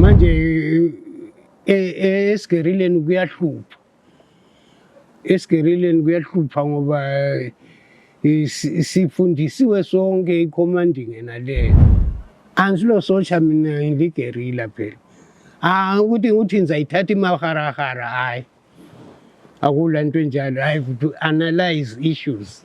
Manje e, e, esigerileni kuyahlupha, esigerileni kuyahlupha ngoba e, sifundisiwe sonke i-commanding ena leyo. Angisilo socha mina ngiligerila phela. Ah ukuthi ukuthi ngizayithatha imaharahara hayi. Akula nto enjalo. I have to analyze issues.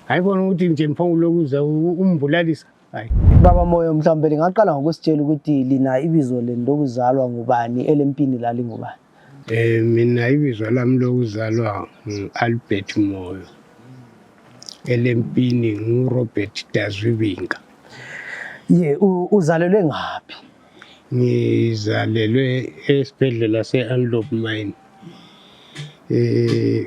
Hayi bona ukuthi nje mphongulokuzwa umbulalisa Hayi. Baba Moyo mhlawumbe lingaqala ngokusitshela ukuthi lina ibizo lenu lokuzalwa ngubani elempini lalingubani. Eh mina ibizo lami lokuzalwa ngu-Albert Moyo. Elempini nguRobert Dazwibinga. Ye uzalelwe ngaphi? Ngizalelwe esibhedlela se-Anlop Mine. Eh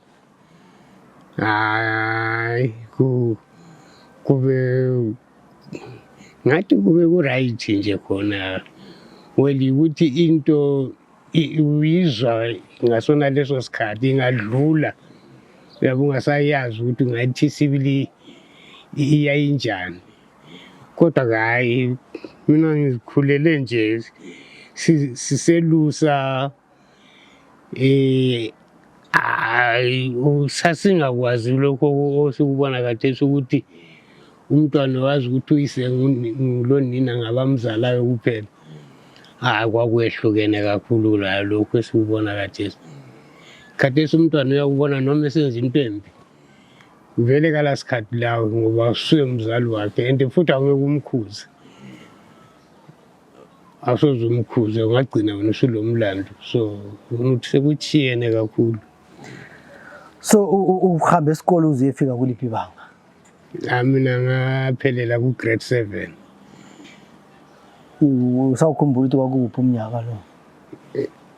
kube ngathi kube ku-right nje khona well yikuthi into uyizwa ngasona leso sikhathi ingadlula yabe ungasayazi ukuthi ngathi sibili iyayinjani kodwa kayi mina ngizikhulele nje siselusa si, Eh hayi sasingakwazi lokho osikubona kathesi ukuthi umntwana wazi ukuthi uyise ngulonina ngabamzalayo kuphela hayi kwakwehlukene kakhulu layo lokhu esikubona kathesi khathesi umntwana uyakubona noma esenza into embi vele kala sikhathi lawo ngoba usuye mzali wakhe and futhi awungeke umkhuze asoze umkhuze ungagcina wena usulo mlando so ngifuna ukuthi sekuthiyene kakhulu so u- u- uhambe esikole uze efika kuliphi ibanga Ah, mina ngaphelela ku-grade seven U- usawukhumbula ukuthi kwakuphi umnyaka lo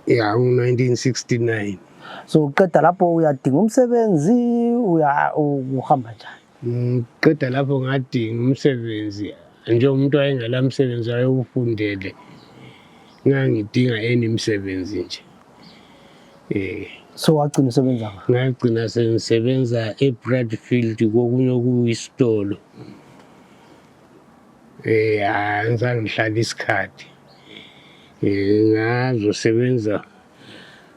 ya u-nineteen sixty-nine so uqeda lapho uyadinga umsebenzi uya- u- uhamba njani Ngiqeda lapho ngadinga umsebenzi njengomuntu wayengela msebenzi wayewufundele ngangidinga eni msebenzi nje eh so wagcina usebenza ngagcina sengisebenza e-bradfield kokunye okuyisitolo eh angizange ngihlale isikhathi eh ngazosebenza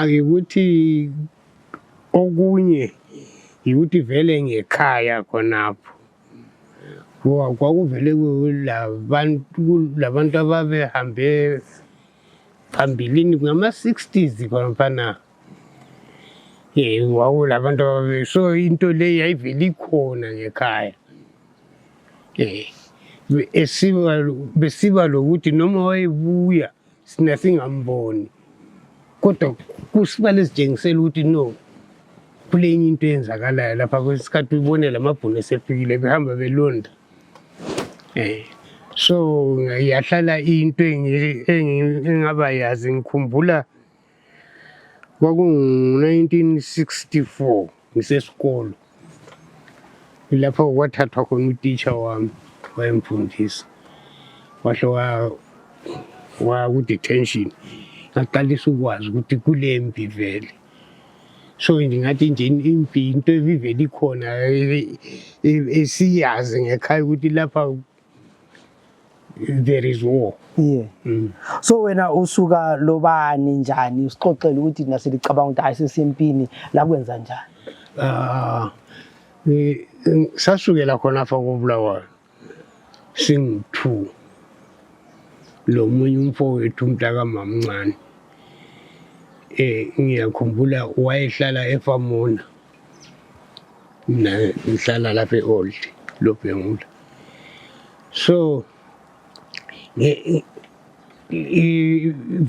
Ayikuthi okunye yikuthi vele ngekhaya khonapho ngoba kwakuvele kulabantu ababehambe phambilini ngama-sixties khonafana um wawulabantu ababe so into le yayivele ikhona ngekhaya um esiba besiba lokuthi noma wayebuya sina singamboni kodwa kusibale sitshengisela ukuthi no kule enye into eyenzakalayo lapha kwesikhathi ubone la mabhunu esefikile behamba belonda um so yahlala into engabayazi ngikhumbula Kwakungu-1964 ngisesikolo lapho kwathathwa khona utitsha wami wayemfundisa wahle wakudetention ngaqalisa ukwazi ukuthi kulempi vele so ndingathi nje impi into ebivele ikhona esiyazi ngekhaya ukuthi lapha there is war yeah mm. so wena usuka lobani njani usixoxele ukuthi thina silicabanga ukuthi ayisesempini la kwenza njani ah sasukela khona fa ko bulawayo sing 2 lo munye umfowethu umntaka mamncane eh ngiyakhumbula wayehlala efamona mina ngihlala lapha e-old lobhengula so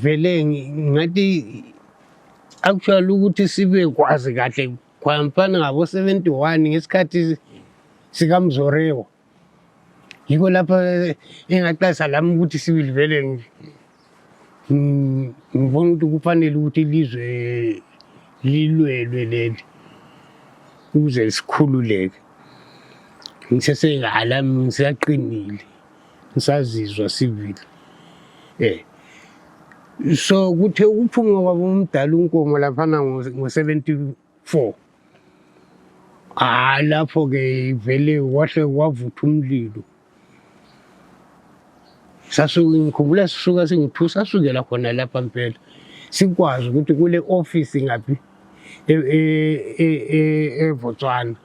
vele ngathi actually ukuthi sibe kwazi kahle kwamfana ngabo-71 ngesikhathi sikamzorewa yikho lapho engaxasa lami ukuthi sibili vele ngibona ukuthi kufanele ukuthi ilizwe lilwelwe leli ukuze sikhululeke ngiseseyalami ngisaqinile ngisazizwa sivile eh so kuthe ukuphuma kwabo umdala unkomo laphana ngo-74 4 ah lapho ke ivele wahle wavutha umlilo sasuke ngikhumbula sisuka singu-2 sasukela khona lapha mpela sikwazi ukuthi kule ofisi ngaphi e, e, e, evotswana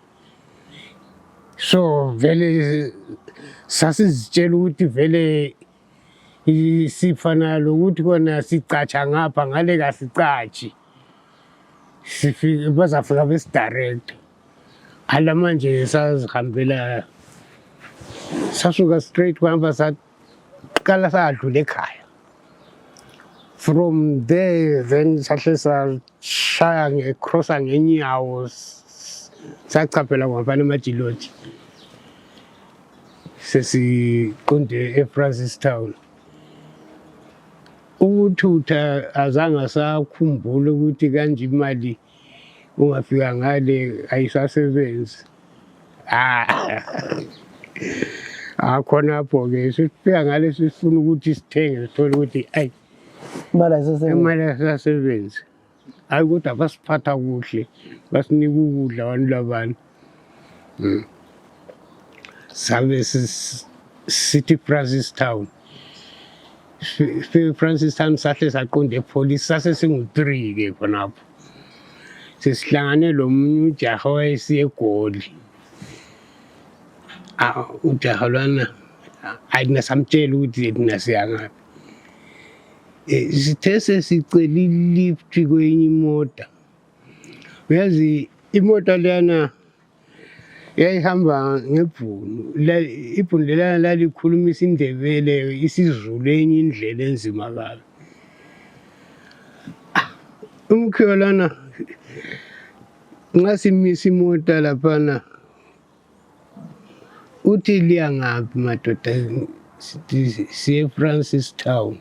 so vele sasizitshela ukuthi vele sifana lokuthi kona sicatsha ngapha ngale kasicatshi sifike bazafika besidirect ala manje sazihambela sasuka straight kwahamba saqala sadlula ekhaya from there then sahle sashaya ngecrossa ngenyawo sachaphela kwamfana emajiloti sesiqonde efrancis town ukuthutha azange asakhumbula ukuthi kanje imali ungafika ngale ayisasebenzi akhonapho-ke ah. ah, sifika ngale sifuna ukuthi sithenge sithole ukuthi ayi imali ayisasebenzi hayi kodwa basiphatha kuhle basinika ukudla abantu labani hmm. sabe sithi francis town francis town sahle saqonda epholisi sase singu-three ke khonapho sesihlangane lo munye ujaha wayesiye egoli ujaha lwana ayi nasamtshela ukuthi thina siyangaphi Eh, sithe sesicela ilift kwenye imota uyazi imota leyana yayihamba ngebhunu ibhunu lelana lalikhuluma isindebele isizulu enye indlela enzima kabi ah, umkhiyo lana nxa simisa imota laphana Uthi liya ngaphi madoda siye Francis Town.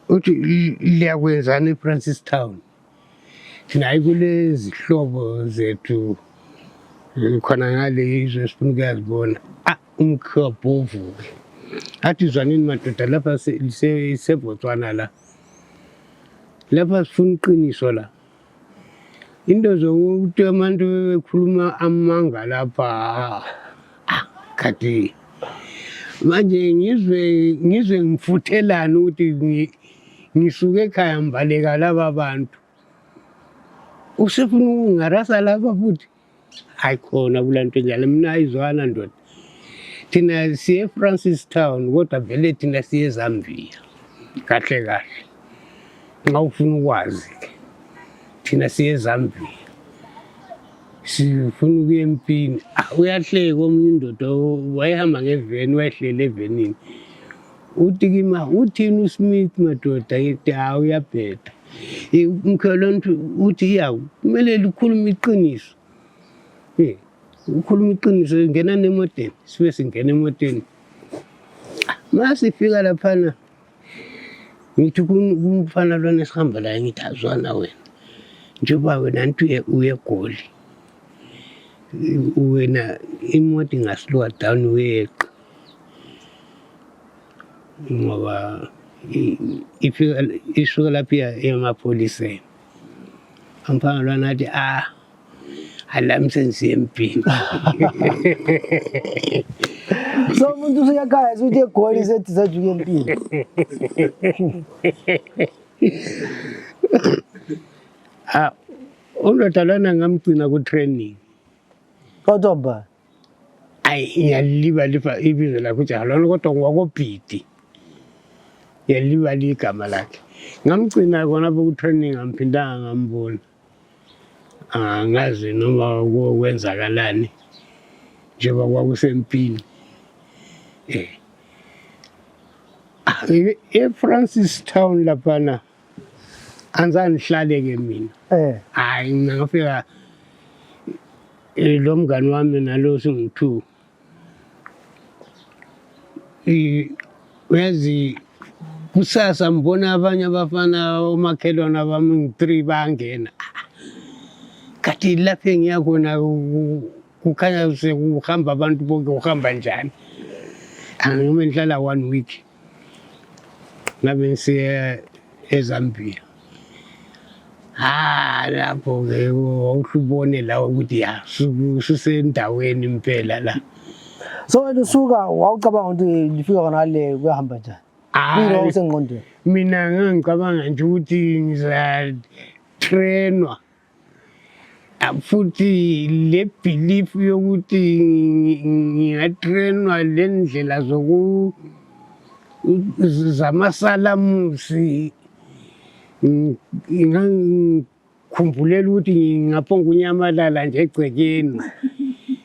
Uthi liya kwenzani eFrancis Town? Thina hayi kulezihlobo zethu khona ngale izwe sifuna ukuyazibona. Ah umkhobho uvuke. Athi zwanini madoda lapha seBotswana la. Lapha sifuna iqiniso la. into zokuthi abantu bekhuluma amanga lapha ah, khathi manje ngizwe ngizwe ngifuthelani ukuthi ngisuke ekhaya mbaleka laba bantu usefuna ukungarasa laba futhi ayikhona kula nto enjalo mna ayizwana ndoda thina siye efrancis town kodwa vele thina siye ezambia kahle kahle nxa ufuna ukwazi ke thina siye ezambia sifuna ukuya empini ah, uyahleka omunye indoda wayehamba ngeveni wayehlele evenini uthi kimi uthini usmith madoda yethi hawu uyabheda umkhelwane uthi yawu kumele likhulume iqiniso um ukhuluma iqiniso ngena nemoteni sibe singena emoteni ma sifika laphana ngithi kumfana lwana esihamba laye ngithi azwana wena njengoba wena nti uyegoli wena imoto ingasilowa down uyeqa ngoba ifika isuka lapho iya emapholiseni eh. amphanga lwana athi ah alami senziye empini so umuntu usuyakhaya suthi egoli sethi sajuke empini ah undoda lwana ngamgcina ku-training kodwa mbani ayi ngiyalibalifa ibizo lakhe ujahalolo kodwa ngwakobhidi ngiyalibali igama lakhe ngamgcina kona apho kutraining amphindanga ngambona angazi ah, noma kwenzakalani njengoba kwakusempini um eh. ah, efrancis town laphana anzani hlaleke mina eh hayi mina ngafika eh, lo mngani wami nalo singu-two Eh, uyazi kusasa ngibona abanye abafana omakhelwana bami ngi-three bangena kati lapho engiya khona ku- kukhanya sekuhamba abantu bonke uhamba njani angime ndihlala one week ngabe siye eZambia ha lapho ke wawuhlubone lawo ukuthi ya sisendaweni impela la so wena usuka wawucabanga ukuthi lifika khona le kuyahamba njani mina wawusengqondweni mina ngangicabanga nje ukuthi ngizatrenwa futhi le belief yokuthi ngingatrainwa le ndlela zoku zamasalamusi ngikhumbulele ukuthi ngingaphonga unyamalala nje egcekeni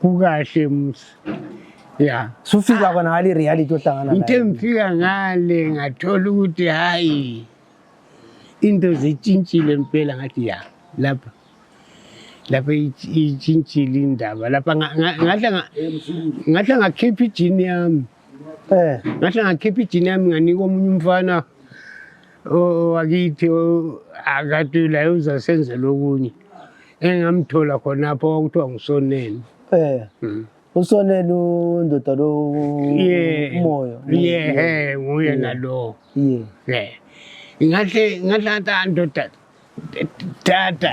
kukahle musa ya sufika ah. kona ngale reality ohlangana ngithe ngifika ngale ngathola ukuthi hayi into zitshintshile mpela ngathi ya lapha lapha itshintshile indaba lapha ngahle ngakhipha ijini yami eh ngati akhipi china mwani ko mfana wakithi akatulayo uzasenze lokunye engamthola khonapho kwakuthiwa ngusoneni eh mm. usoneni undoda lo umoya ye nguye nalowo ye ngahle ngahle andoda Tata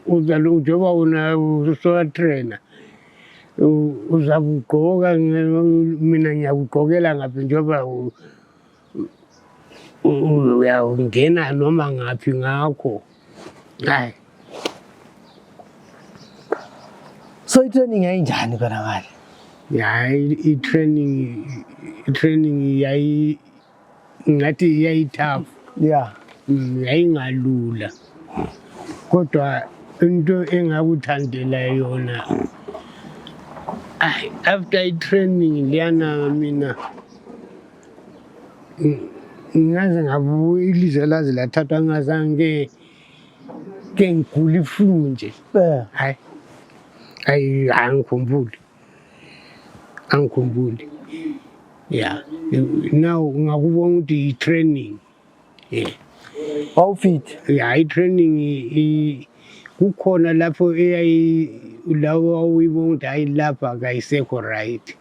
uzoba usowatrena uzakugqoka mina ngiyakugqokela ngaphi njengoba uyawungena noma ngaphi ngakho hayi so i-training yayinjani konakale hayi i-training i-training yayi ngathi yayithafu ya mm, yayingalula kodwa into engakuthandela yona Ay, after i-training liyana mina ng- ngaze ngabuya ilizwe laze lathathwa ngazange ke ngigula iflu nje eh hayi hayi angikhumbuli angikhumbuli ya now ngakubona ukuthi yi-training ye wawufit ya i-training kukhona lapho eyayi lawo wawuyibona ukuthi hayi lapha kayisekho right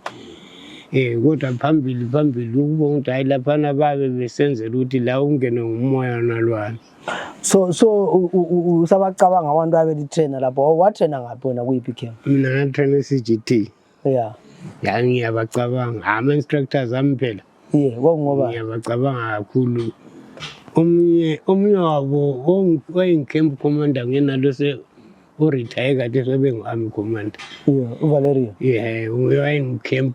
Eh kodwa phambili phambili ukubona ukuthi hayi laphana babe besenzela ukuthi la ungene ngumoya nalwana so so usabacabanga abantu abelitrainer lapho oh, watrainer ngaphi wena kuyiphi camp mina ngatrainer i-cgt ya yangiyabacabanga ama-instructors ami phela ye kwakungoba ngiyabacabanga kakhulu omunye omunye wabo oyincamp commander ngenalo urithaye kade sebengu-army commander uvaleria ye wayengu-camp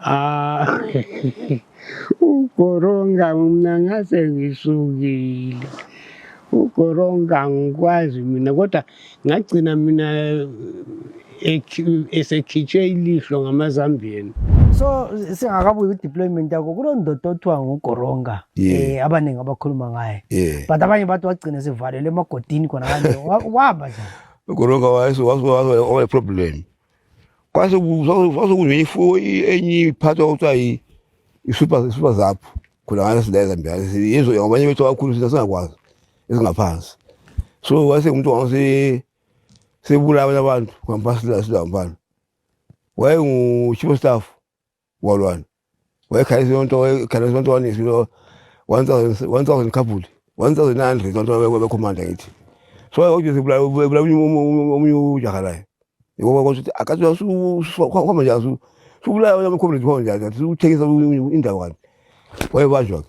Ah, ugoronga mna ngase ngisukile ugoronga ngikwazi mina kodwa ngagcina mina esekhitshwe ilihlo ngamazambiyeni so singakabuyi kwi-deployment yakho kuloo ndoda othiwa ngugoronga um eh, abaningi abakhuluma ngaye but abanye bathi wagcina sivalelwe emagodini khona kanje wahamba njani ugoronga wayeproblem kwasokunye ifuyo enye iphathwa kuthiwa i-super zap khona ngane silayeza mbiyane yizo abanye bethu abakhulu sina singakwazi ezingaphansi so wase umuntu wase sebula abanye abantu ngaphansi la silampana wayengu-chief of staff walwane wayekhalisa yonke into wayekhalisa yonke into wanisilo 1000 1000 couple 1900 zonke wabekhomanda ngithi so wayekuthi sibulawa ubulawa omunye ujaha laye ngoba kwathi akathi usukhamba nje asu subulawa yamkhomanda khona nje athi uthengisa indawo kanti wayebanjwa ke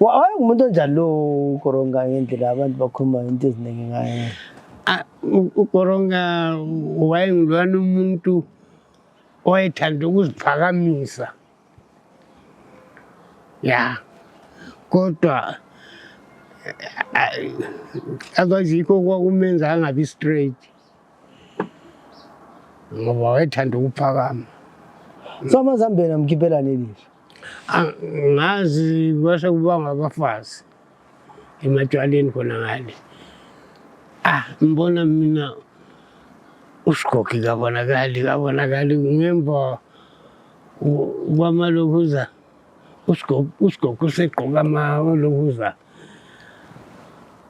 Hayi umuntu onjani lo ukoronga ngendlela abantu bakhuluma into eziningi ngaye. Ah, u- ukoronga wayengilwana umuntu owayethanda ukuziphakamisa ya kodwa eh, akwazikho kwakumenza angabi straight ngoba wayethanda ukuphakama So amazambeni amkhiphela nelisho. Angazi kwase kubanga abafazi ematshwaleni khona ngale. Ah, mbona mina usigogi kabonakali kabonakali ngemva kwamalokhuza usigogi useqoka amalokhuza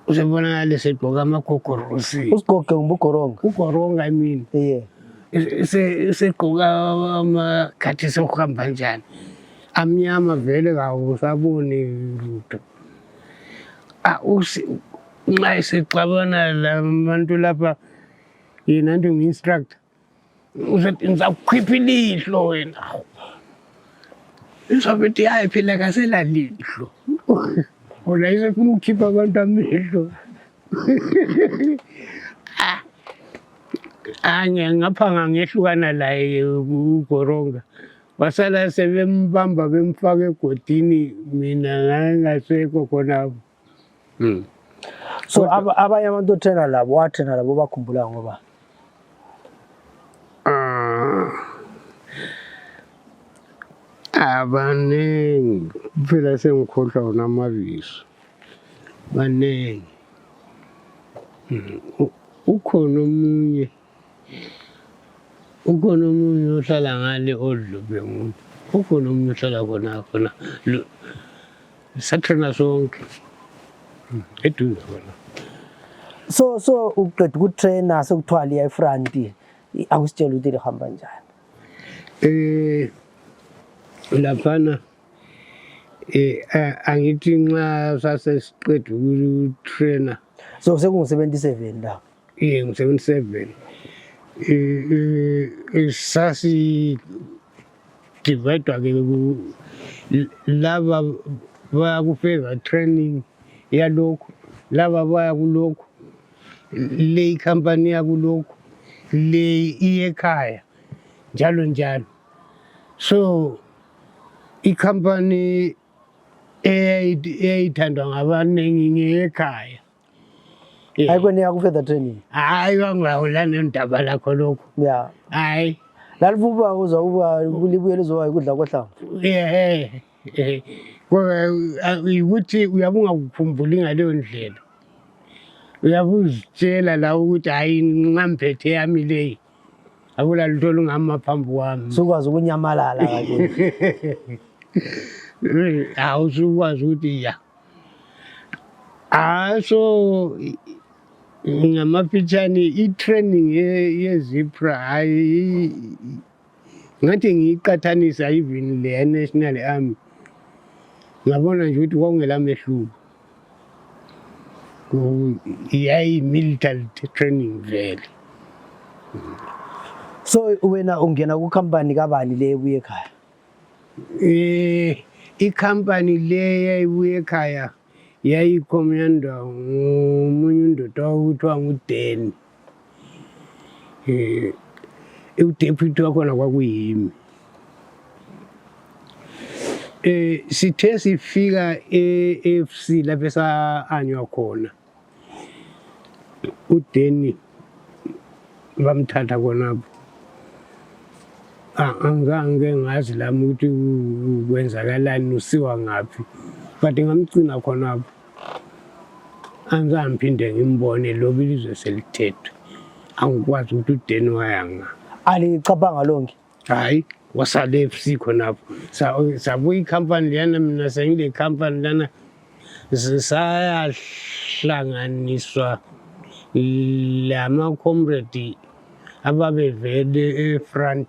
Usibona lesi gqoka amagogorosi. Usigoge ngumbugoronga. Ugoronga I mean. Yeah. Segqoka amakhathi sokuhamba njani. Amnyama vele kawusaboni lutho. Ah usi nxa sixabana labantu lapha yena nto ngi-instructor uzothi ngizakukhipha ilihlo wena izobe ithi hayi phela kaselalihlo ona isefuna ukukhipha abantu amehlo ah. ah, ngaphanga ngehlukana laye ugoronga wasala sebembamba bemfaka egodini mina ngangasekho khonapho mm. so abanye abantu othena labo wathena labo bakhumbula ngoba ah. abaningi phela sengikhohlwa wona amabizo baningi mm. ukhona omunye mm. ukhona omunye ohlala ngale odlube muntu ukhona omunye ohlala khona khona sathana sonke hmm, eduze khona so so uqeda ukutraina sekuthiwa liya efranti akusitshela ukuthi lihamba njani um laphana um angithi nxa sasesiqeda ukutraina so sekungu-seventy seven lapho Iye ngu-77 sasidivaydwa-ke laba baya ku-favor training yalokhu laba baya kulokhu le ikhampani yakulokhu le iyekhaya njalo njalo so ikhampani eyayithandwa ngabaningi ngeyekhaya Eh. Hayi kweniya ku further training. Hayi wangawula nendaba lakho lokho. Yeah. Hayi. Lalivuba uza uba kulibuye lizowa ikudla kohlanga. Eh. Eh. Ukuthi uyabunga ukukhumbuli ngaleyo ndlela. Uyabuzitshela la ukuthi hayi nxamphethe yami leyi. akulalitho olungama phambi kwami sukwazi ukunyamalala hawu sukwazi ukuthi ya haso ngamafitshane i-training yezipra hayi ngathi ngiyiqathanisa even le national army ngabona nje ukuthi kwakungela mehluko yayi-military training vele so wena ungena kukhampani kabani le ebuye ekhaya um ikhampani le yayibuye ekhaya yayikho myandawo ngomunye undoda okuthiwa ngudeni Eh, e udephuti wakhona kwakuyimi eh sithe sifika eFC lapho esaanywa khona uDeni bamthatha khonapho ah, angizange ngazi lami ukuthi kwenzakalani usiwa ngaphi but ngamgcina khonapho angizange ngiphinde ngimbone loba ilizwe selithethwe angikwazi ukuthi udeni wayanga alicabanga lonke hayi wasale fc khonapho sabuya ikhampani leyana mina sengile khampani lana zisayahlanganiswa lama comrade ababevele efront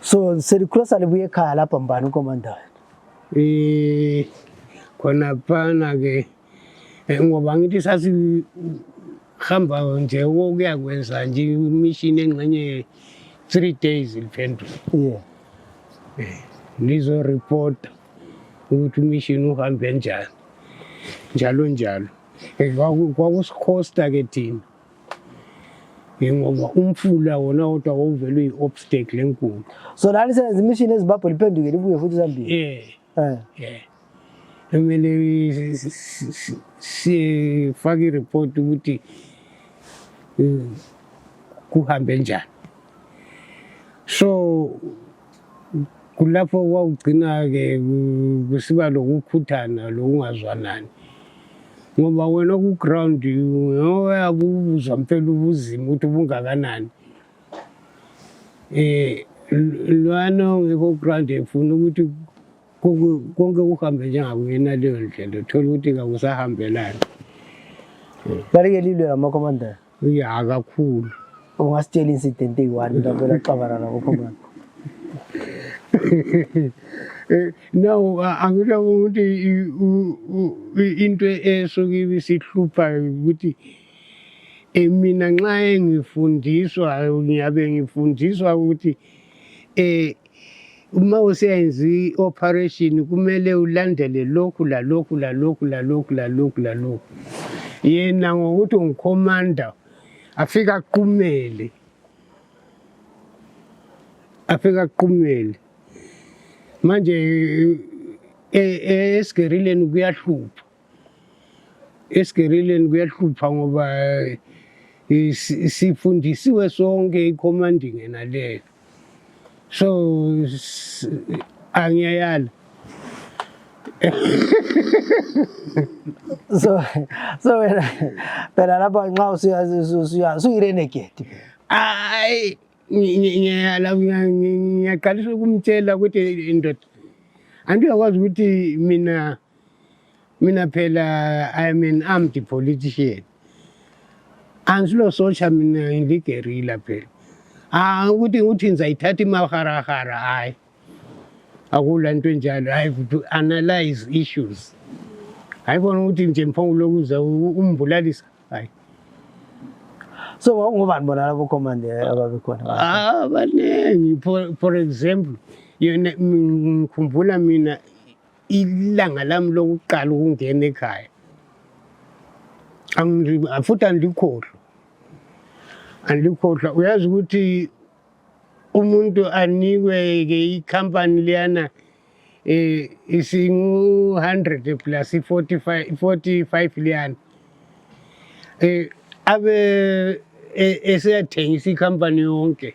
So selikula salibuye khaya lapha mbani ukomanda wethu? Eh khona phana ke eh, ngoba ngithi sasihamba nje ukuya kwenza nje imishini engxenye three days liphendula Yeah. Eh, lizoreporta ukuthi umishini uhambe njani njalo njalo Eh, kwaku- kwakusikhosta ke thina njengoba umfula wona wodwa wawuvelwe yi-obstacle enkulu so lani senza imishini ezimbabwe liphenduke libuye futhi zambili eh eh, eh. kumele sifake ireport ukuthi eh, kuhambe njani so kulapho kwakugcina-ke kusiba lokukhuthana lokungazwanani ngoba wena ku-ground ngoyabe ubuzwa mpela ubuzima ukuthi ubungakanani um lwana ongekho ku-ground efuna ukuthi konke kuhambe njengakuyena leyo ndlela uthole ukuthi kakusahambelani balike lilwe lamakomandela ya kakhulu ungasitshela incident eyi-one mina vele axabana nabokho mani eh, now angisho ukuthi into esuke ibisihlupha ukuthi eh, mina nxa engifundiswa ngiyabe ngifundiswa ukuthi Eh uma useyenza i-operation kumele ulandele lokhu lalokhu lalokhu lalokhu lalokhu lalokhu yena ngokuthi ungikhomanda afika aqumele afika aqumele manje e, e, esigerileni kuyahlupha esigerileni kuyahlupha ngoba eh, sifundisiwe sonke icommanding yena leyo so angiyayala so so wena phela lapha nxa usuyirenegedi hayi ngiyala ngiyaqalisa ukumtshela ukuthi indoda andiyakwazi ukuthi mina mina phela i am an armed politician angisilo socha mina ngiligerila phela ah ukuthi ukuthi ngizayithatha imaharahara hayi akula nto enjalo hayi to analyze issues hayi bona ukuthi nje mphongo lokuza umbulalisa hayi so wawungobani bona labo commander eh, ababekhona ah baningi for example yona ngikhumbula mina ilanga lami lokuqala ukungena ekhaya futhi andilikhohlwa andilikhohlwa uyazi ukuthi umuntu anikwe-ke ikhampani liyana um eh, isingu-hundred plus i-forty-five liyana um abe e, eseyathengisa ikhampani yonke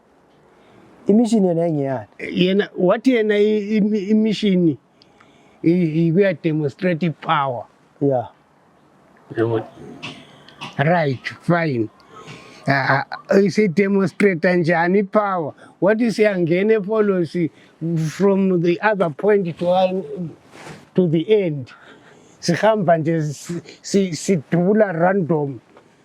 imishini yona ingeyani yena wathi yena imishini ikuya demonstrate power yeah right fine isidemonstrata njani ipower wathi siyangena epholosi from the other point to, uh, to the end sihamba nje sidubula random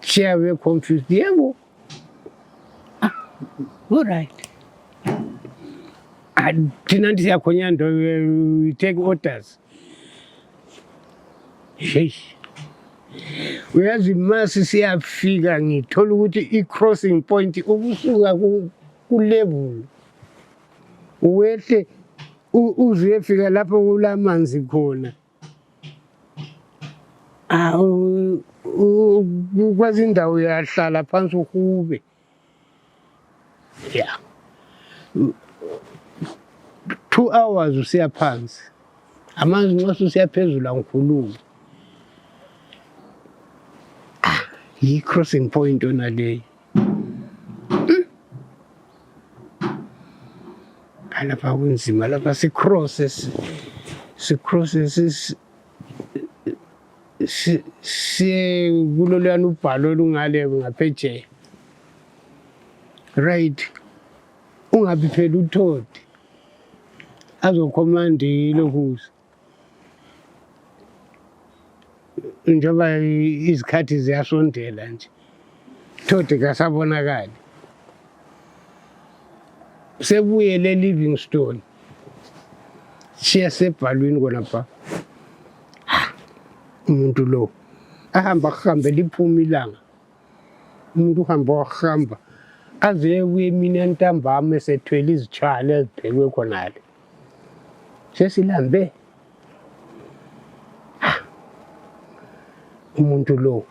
Chair we confused diye bu. Ah, all right. Ah, Tina ndisi yakho nyando we take orders. Sheesh. uyazi masi siyafika ngithola ukuthi i-crossing point ukusuka ku-level wehle uzuyefika lapho kulamanzi khona Awu, u- u- kwezinye indawo uyahlala phansi uhube ya two hours usiya phansi amanzi nxa susiya phezulu angikhulumi Ah, yi-crossing point yona leyi lapha kunzima lapha sicrosses sicrosses siye kuloluyana ubhalo olungale ngaphetsheya right ungabi phela uthodi azokhomanda ilokusa njengoba izikhathi ziyasondela nje thodi kasabonakali sebuye le livingstone shiya sebhalwini kona pha umuntu lo ahamba kuhambe liphuma ilanga umuntu uhamba wahamba aze ebuye mina ntambama esethwele izitshwala eziphekwe khonale Siya si Lambe. Ah. Umuntu lo.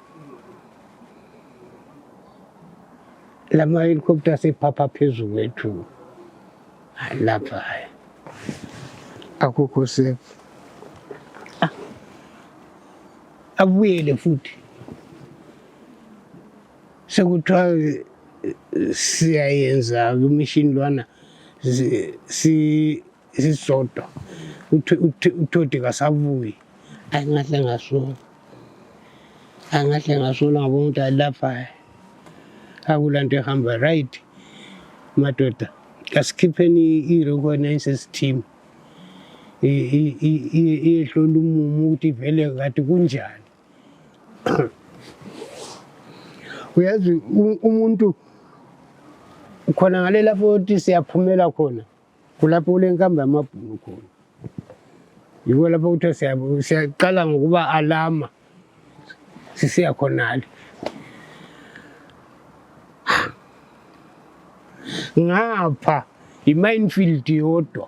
Lama helicopter sephapha phezu kwethu. Lapha. Akukho safe. Ah. Abuyele futhi. sekuthiwa eh, siyayenza kumishini lwana sisodwa uthodi kasabuyi ayi ngahle ngasola ayi ngahle ngasola ngoba umuntu alaphayo akula nto ehamba right madoda kasikhipheni i-recognises team iyehlola umumo ukuthi vele kade kunjani uyazi umuntu khona ngale lapho ukuthi siyaphumela khona kulapho kulenkamba yamabhunu khona yiko lapho kuthiwa siyaqala ngokuba alama sisiya khonale ngapha yi-minefield yodwa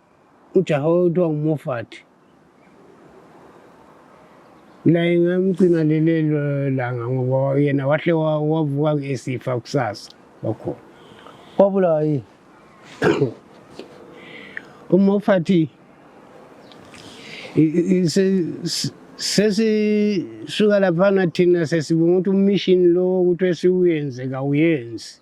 ujaha okuthiwa nguMoffat laye ngamgcina lelelo langa ngoba yena wahle wa- wavuka esifa kusasa wakhona wabulawa yini uMoffat i- i- se- se- sesisuka laphana thina sesibonga ukuthi ummission lo ukuthi esiwuyenze kawuyenzi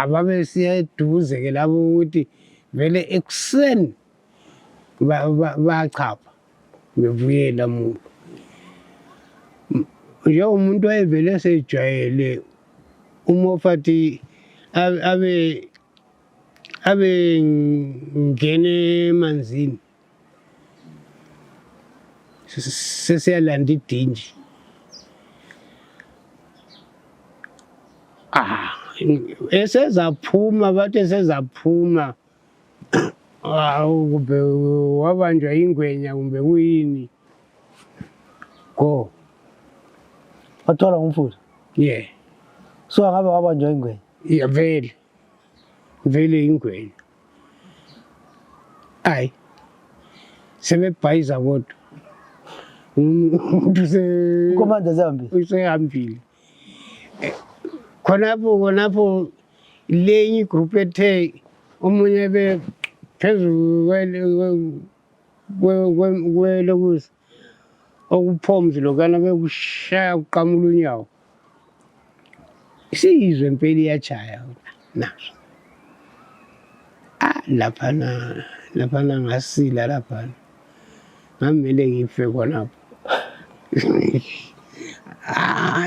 ababesiya eduze ke labo ukuthi vele ekuseni bachapha bebuyela muntu njengomuntu wayevele esejwayele umofathi abe abe ngene emanzini sesiyalanda idinji ah esezaphuma bathi esezaphuma awu kumbe wabanjwa yingwenya kumbe kuyini go wathola ngumfula ye so angabe wabanjwa yingwenya ya vele vele yingwenya Ai, seme paiza voto mtusekomanza zambi usehambile eh, khonapho khonapho lenye igroupu ethe omunye be phezulu kwelokusa okuphomzi lokana bekushaya kuqamula unyawo isiyizwe impela iyajaya naso ah laphana laphana ngasila laphana ngamele ngife khonapho ah,